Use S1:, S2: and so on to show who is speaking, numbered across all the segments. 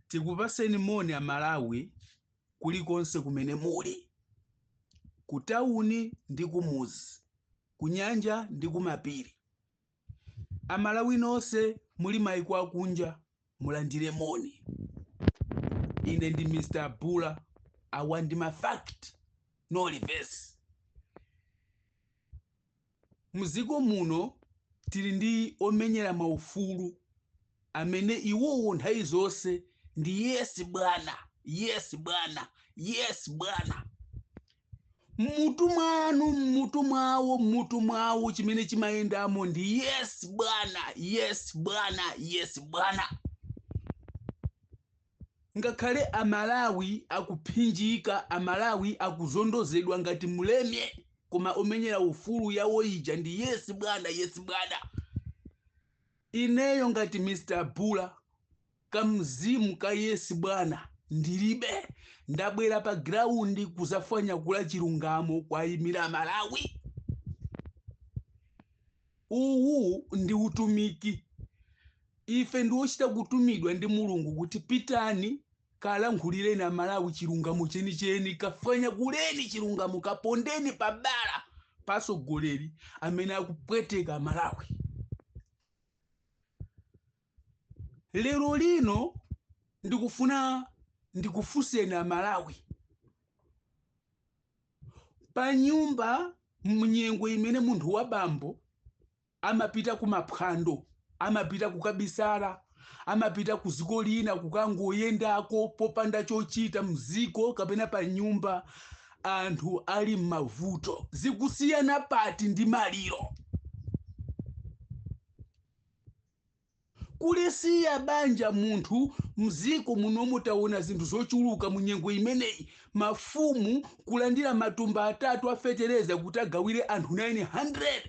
S1: tikupaseni moni amalawi kulikonse kumene muli kutawuni ndi kumuzi kunyanja ndi kumapiri amalawi nonse muli maiko akunja mulandire moni ine ndi mr bula awa ndi mafact no reverse Mdziko muno tili ndi omenyera maufulu amene iwowo nthawi zonse ndi yes bwana, yes bwana, yes bwana. Mmutu mwanu, mmutu mwawo, mmutu mwawo chimene chimayendamo ndi yes bwana, yes bwana, yes bwana. Ngakhale a Malawi akuphinjika, a Malawi akuzondozedwa ngati mleme, koma omenyera ufulu yawo ija ndi yes bwana, yes bwana. Ineyo ngati Mr Bula, ka mzimu ka yes bwana ndilibe. Ndabwera pa ground kuzafwanyakula chilungamo kuwaimira a Malawi. Uwu ndi utumiki. Ife ndi ochita kutumidwa ndi Mulungu kuti pitani kalankhulireni a Malawi chilungamo chenicheni, kafwanyakuleni chilungamo, kapondeni pabala pa atsogoleri amene akupweteka a Malawi. lero lino ndikufuna ndikufunseni amalawi pa nyumba mnyengo imene munthu wa bambo amapita kumaphwando amapita kukabisala amapita ku dziko lina kukangoyendako popanda chochita mziko kapena pa nyumba anthu ali m'mavuto zikusiyana pati ndi maliro Kulisiya banja munthu mziko munomu taona zinthu zochuluka munyengo imeneyi mafumu kulandira matumba atatu a feteleza kuti agawire anthu 900.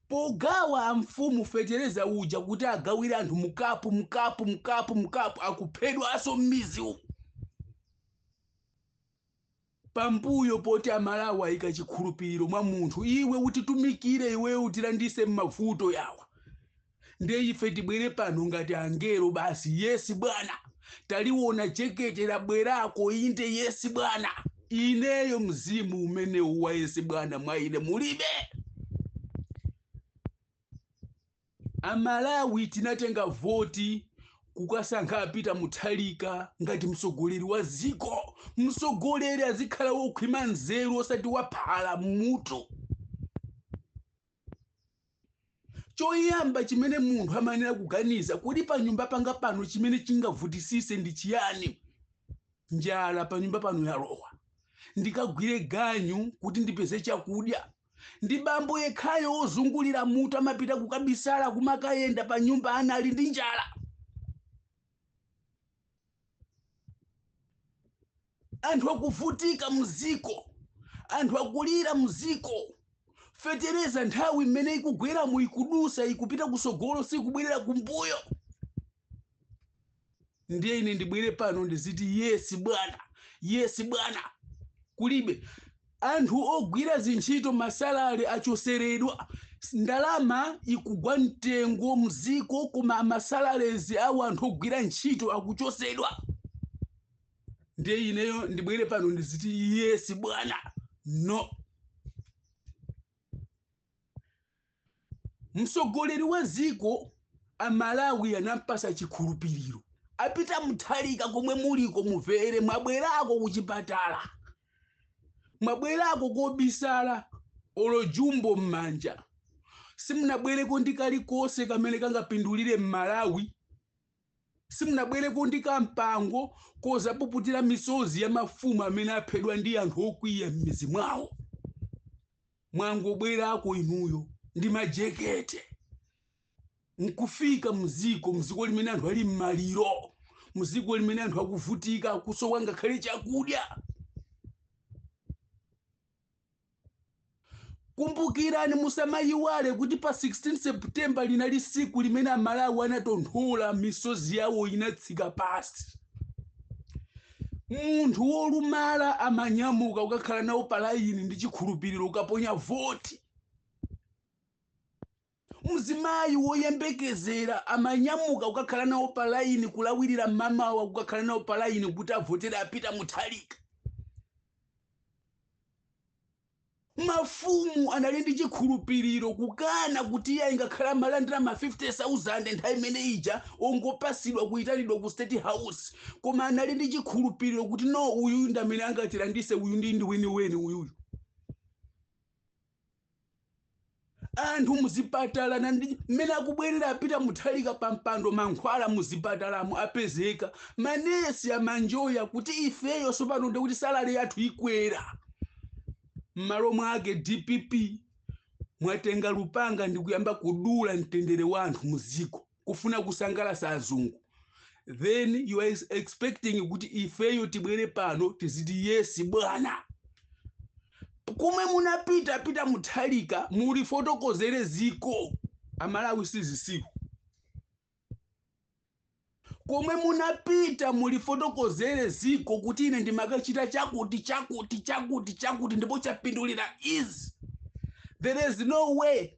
S1: Pogawa amfumu feteleza uja kuti agawire anthu mkapu mkapu mkapu mkapu akuphedwaso mmizi umu. Pambuyo poti amalawi ayika chikhulupiliro mwa munthu iwe utitumikire iweyo utilanditse mmavuto yawa nde ife tibwere pano ngati angelo basi yes bwana taliwona jekete labwerako inde yes bwana ineyo mzimu umenewu wa yes bwana mwa ine mulibe. A Malawi tinatenga voti kukasankha a Peter Mutharika ngati mtsogoleri wa dziko. Mtsogoleri azikhala wokhwima nzeru osati wa phala m'mutu. Choyamba chimene munthu amayenera kuganiza, kodi panyumba panga pano chimene chingavutisise ndi chiyani? Njala panyumba pano yalowa. Ndikagwire ganyu kuti ndipeze chakudya. Ndi bambo yekhayo wozungulira mutu amapita kukabisala kumakayenda pa nyumba ana ali ndi njala. Anthu akuvutika muziko, anthu akulira muziko. Fetereza nthawi imene ikugweramu ikudusa ikupita kusogolo sikubwerera kumbuyo. ndiye ine ndibwere pano ndiziti yes bwana yes bwana kulibe anthu ogwira zintchito masalale achoseredwa ndalama ikugwa mtengo mziko koma masalalezi awo anthu ogwira ntchito akuchosedwa ndiye ineyo ndibwere pano ndiziti yes bwana no mtsogoleri wa dziko amalawi anampasa chikhulupiriro a Peter Mutharika komwe muliko muvere mwabwerako kuchipatala mwabwerako kobisala olo jumbo m'manja simunabwereko ndi kalikonse kamene kangapindulire Mmalawi Simunabwereko ndi kampango kozapuputira misozi ya mafumu amene aphedwa ndi anthu okwiya m'mizi mwawo. Mwangobwerako inuyo ndi majekete nkufika mziko mziko limene anthu ali m'maliro mziko limene anthu akuvutika akusowa ngakhale chakudya Kumbukirani, musamayiwale kuti pa 16 September linali siku limene Amalawi anatonthola misozi yawo inatsika pasi. Munthu wolumala amanyamuka kukakhala nawo pa layini ndi chikhulupiriro kukaponya voti. Mzimayi woyembekezera amanyamuka kukakhala nawo pa layini kulawirira mmamawa kukakhala nawo pa layini kuti avotere a Peter Mutharika. Mafumu anali ndi chikhulupiriro kukana kuti iye ingakhale amalandira ma 50,000 nthawi imene ija ongopasidwa kuyitanidwa ku State House koma anali ndi chikhulupiriro kuti no uyuyu ndi amene angatilandise uyu ndi mwiniweni uyuyu. anthu muzipatala ndi mmene akubwerera apita Mutharika pa mpando mankhwala muzipatalamo apezeka manesi amanjoya kuti ifeyo sopano ndi kuti salary yathu ikwera m'malo mwake dpp mwatenga lupanga ndi kuyamba kudula mtendere wa anthu muziko kufuna kusangalasa azungu then you are expecting kuti ifeyo tibwere pano tiziti yes bwana komwe munapita pita Mutharika mulifotokozere ziko amalawi sizisiku komwe munapita mulifotokozere ziko kuti ine ndimakachita chakuti chakuti chakuti chakuti ndipo chapindulira izi there is no way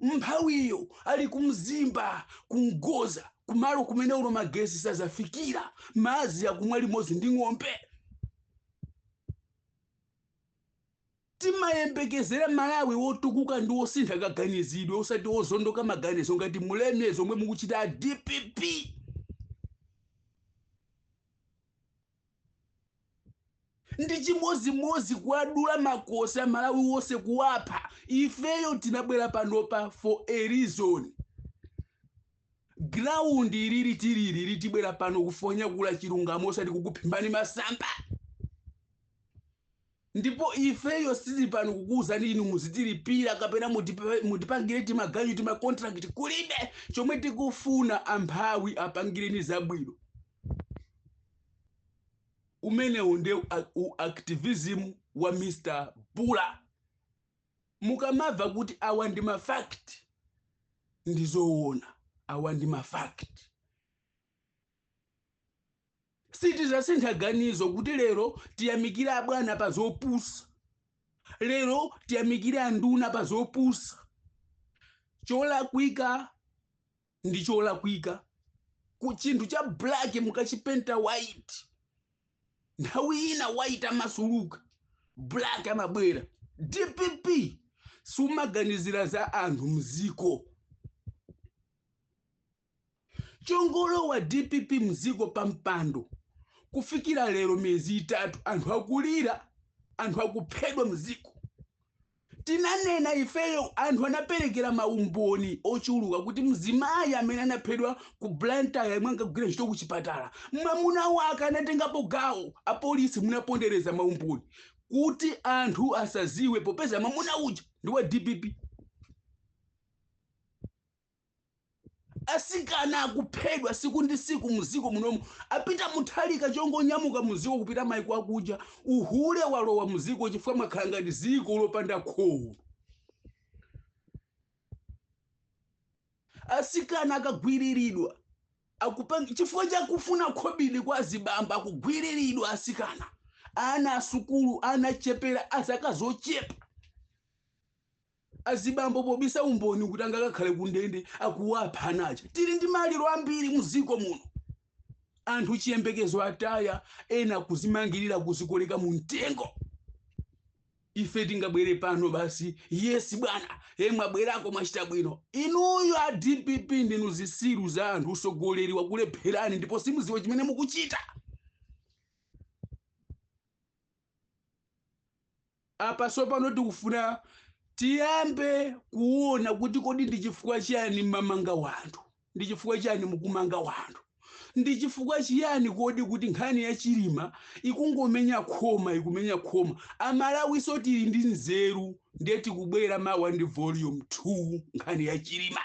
S1: Mphawiyo ali ku Mzimba ku Mgoza kumalo kumene olo magesi sazafikira, madzi akumwa limodzi ndi ng'ombe. Timayembekezera Malawi wotukuka ndi wosintha kaganizidwe osati wozondoka maganizo ngati mmenemo zomwe mukuchita a dpp. Ndi chimozimozi kuwadula makosi amalawi wose kuwapha ifeyo tinabwera panopa for a reason ground ili li tili li li tibwera pano kuzonyakula chilungamo osati kukuphimbani masamba Ndipo ifeyo sitili pano kukuuzani inu muzitilipira kapena mutipa- mutipangire timaganyu tima contract kulibe chomwe tikufuna amphawi apangireni zabwino umenewo nde u activism wa mr bula mukamava kuti awa ndi mafact ndizoona awa ndi mafact sitizasintha ganizo kuti lero tiyamikire abwana pa zopusa lero tiyamikire anduna pa zopusa cholakwika ndi cholakwika ku chinthu cha black mukachipenta white nthawi ina white amasuluka black amabwera dpp sumaganizira za anthu mziko Chongolowa dpp mziko pa mpando kufikira lero miyezi itatu anthu akulira anthu akuphedwa mziko tinanena ifeyo anthu anaperekera maumboni ochuluka kuti mzimayi amene anaphedwa ku blantyre yemwe ankagwira ntchito ku chipatala mwamuna wake anatengapo gawo apolisi munapondereza maumboni kuti anthu asaziwe popeza mwamuna uja ndi wa dpp Asikana akuphedwa siku ndi siku muziko munomu apita Mutharika chongonyamuka muziko kupita maiko akunja uhule walowa muziko chifukwa mwakhala ngati ziko lopanda kholo asikana akagwiriridwa akupanga chifukwa chakufuna khobidi kwa azibambo akugwiriridwa asikana ana asukulu ana ochepera azaka zochepa Azibambo pobisa umboni kuti angakakhale kundende akuwapha ana aja. Tili ndi maliro ambiri muziko muno. Anthu chiyembekezo ataya, ena kuzimangirira kuzikoleka mu mtengo. Ife tingabwere pano basi, yes bwana, e mwabwerako mwachita bwino. Inuyo a DPP ndinu zisiru za anthu, usogoleri wakulepherani ndipo simuziwa chimene mukuchita. Apa tsopano tikufuna tiyambe kuona kuti kodi ndi chifukwa chiyani mmamanga wanthu, ndi chifukwa chiyani mukumanga wanthu, ndi chifukwa chiyani kodi kuti nkhani ya Chilima ikungomenya khoma, ikumenya khoma. Amalawifenso tili ndi nzeru ndiye tikubwera mawa ndi volume 2 nkhani ya Chilima.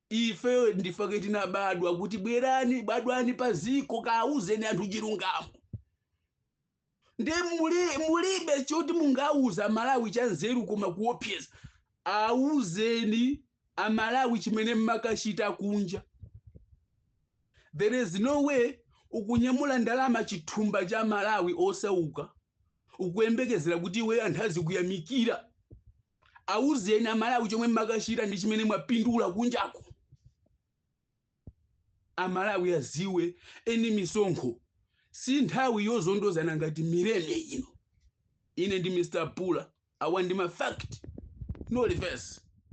S1: Ife ndi chifukwa chake tinabadwa kuti bwerani badwani pa ziko kaawuzeni anthu chilungamo. Nde muli, mulibe choti mungauze a Malawi cha nzeru koma kuopseza. Auzeni a Malawi chimene mmakachita kunja. There is no way ukunyamula ndalama chithumba cha Malawi osauka ukuyembekezera kuti iweyo anthu azikuyamikira. Awuzeni amalawi chomwe mmakachita ndi chimene mwapindula kunjako. Amalawi aziwe eni misonkho si nthawi yozondozana ngati mileme ino. Ine ndi Mr Pula awa ndi ma fact no reverse.